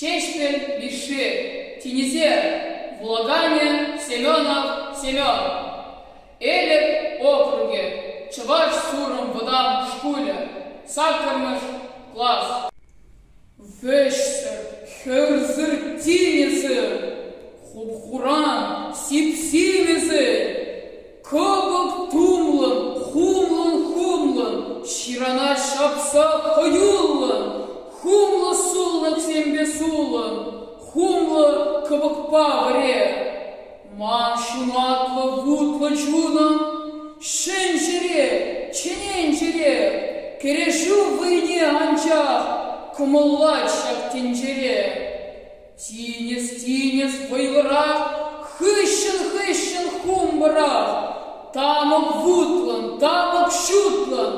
Ҫеҫпӗл Мишши, тинӗсер вулаканӗ Семенов Семен, Элӗк округӗ, Чӑваш Сурӑм вӑтам шкулӗ, саккӑрмӗш класс. Вӗҫсӗр, хӗвӗрсӗр тинӗсӗр, хуп-хуран сип-симӗсӗр Кӑпӑк тумлӑн, хумлӑн, хумлӑн, ҫырана ҫапса хӑюллӑн, хумлӑ суллӑксемпе сулӑн, хумлӑ кӑпӑкпа вӗре. Ман ҫунатлӑ вутлӑ чунӑм, ҫӗнҫӗре, чӗненчӗре, кӗрешӳ вӑйне анчах кӑмӑллать ҫак тӗнчере. Тинӗс, тинӗс вӑйлӑрах, хыҫҫӑн-хыҫҫӑн хумпӑрах, тамӑк вутлӑн, тамӑк ҫутлӑн,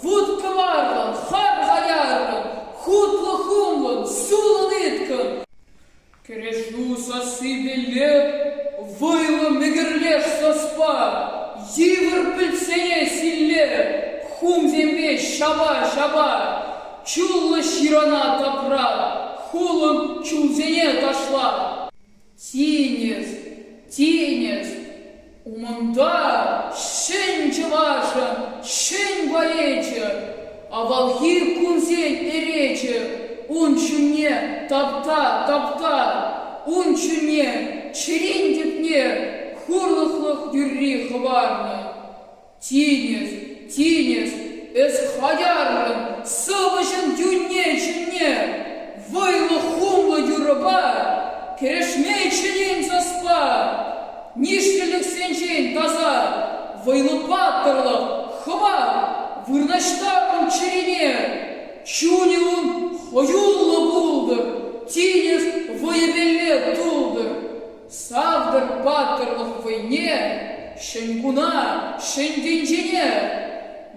вут кӑварлӑн, хар хаярлӑн, хутлӑ-хумлӑн, сулӑн ыткӑн. Кӗрешӳ сассипе леп, вӑйлӑ мӗкӗрлеш саспа, йывӑр пӗлсене силле, хумсемпе ҫапа-ҫапа, Чуллӑ ҫырана тапра, хулӑн чунсене ташла. Тинӗс, тинӗс, умӑнта ҫӗн чӑвашӑн ҫӗн поэчӗ, авалхи кунсен перечӗ, ун ҫумне тапта, тапта, ун ҫумне чӗрин тӗпне хурлӑхлӑх юрри хӑварнӑ. Тинӗс, тинӗс, эс хатяррӑн сӑвӑҫӑн тӳнне-чунне, вӑйлӑ-хумлӑ юрӑпа кӗрешме чӗнен саспа, нишлӗлӗхсенчен таса вӑйлӑ паттӑрлӑх, хӑват вырнаҫтартӑн чӗрине. Чунӗ ун хӑюллӑ пултӑр, тинӗс вӑйӗ-пелле тултӑр, Савтӑр паттӑрлӑх вӑйне Ҫӗнкуна Ҫӗнтӗнчене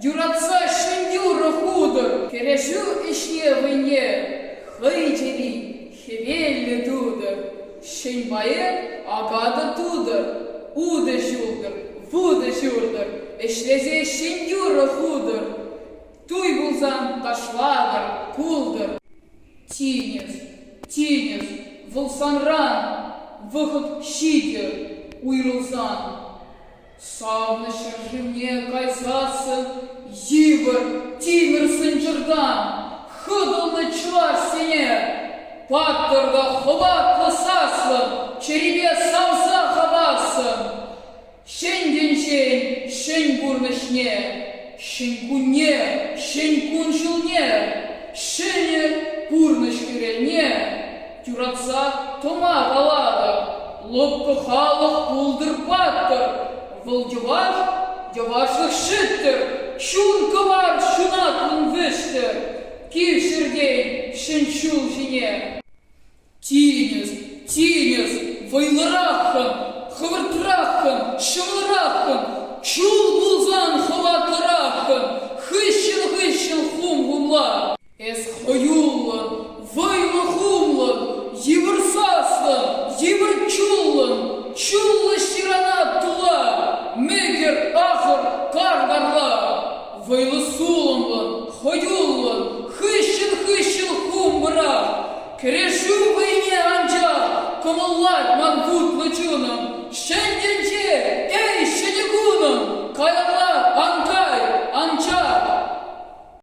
Юратса ҫӗньюрӑ хутӑр! Кӗрешӳ ӗҫне вӑйне Хӑй чӗри хӗвеллӗ тутӑр, Ҫӗн пайӗ акатӑ тутӑр, Утӑ ҫултӑр, вутӑ ҫуртӑр, Ӗҫлесе ҫӗньюрӑ хутӑр! Туй пулсан ташлатӑр, култӑр! Тинӗс, тинӗс, вӑл санран вӑхӑт ҫитӗ уйрӑлсан. Савнӑ ҫӗршывне кайсассӑн йывӑр тимӗр сӑнчӑртан хӑтӑлнӑ чӑвашсене паттӑрта хӑватлӑ саслӑн чӗрипе савса хавассӑн Ҫӗн тӗнчен ҫӗн пурнӑҫне, ҫӗн кунне, ҫӗн кун-ҫулне, ҫӗнӗ пурнӑҫ хӗрелне юратса тӑма калатӑп. Лӑпкӑ халӑх пултӑр паттӑр, вӑл йӑваш, йӑвашлӑх ҫӗттӗр, чун кӑвар ҫунат ун вӗҫтӗр, кил-ҫӗртен ҫӗн ҫул ҫине. Тинӗс, тинӗс, вӑйлӑраххӑн, хӑвӑртраххӑн, ҫӑмӑлраххӑн, чул пулсан хӑватлӑраххӑн, хыҫҫӑн-хыҫҫӑн хум-хумла. Эс хӑюллӑн, вӑйлӑ-хумлӑн, йывӑр саслӑн, йывӑр чуллӑн, чуллӑ ҫыранат тула, мӗкӗр, ахӑр, кар карла. Вӑйлӑ-сулӑмлӑн, хӑюллӑн, хыҫҫӑн-хыҫҫӑн хум-пӑрах. Кӗрешӳ вӑйне анчах кӑмӑллать ман хутлӑ чунӑм. Ҫӗн тӗнче, эй, ҫӗнӗ кунӑм, каялла ан кай, ан чар.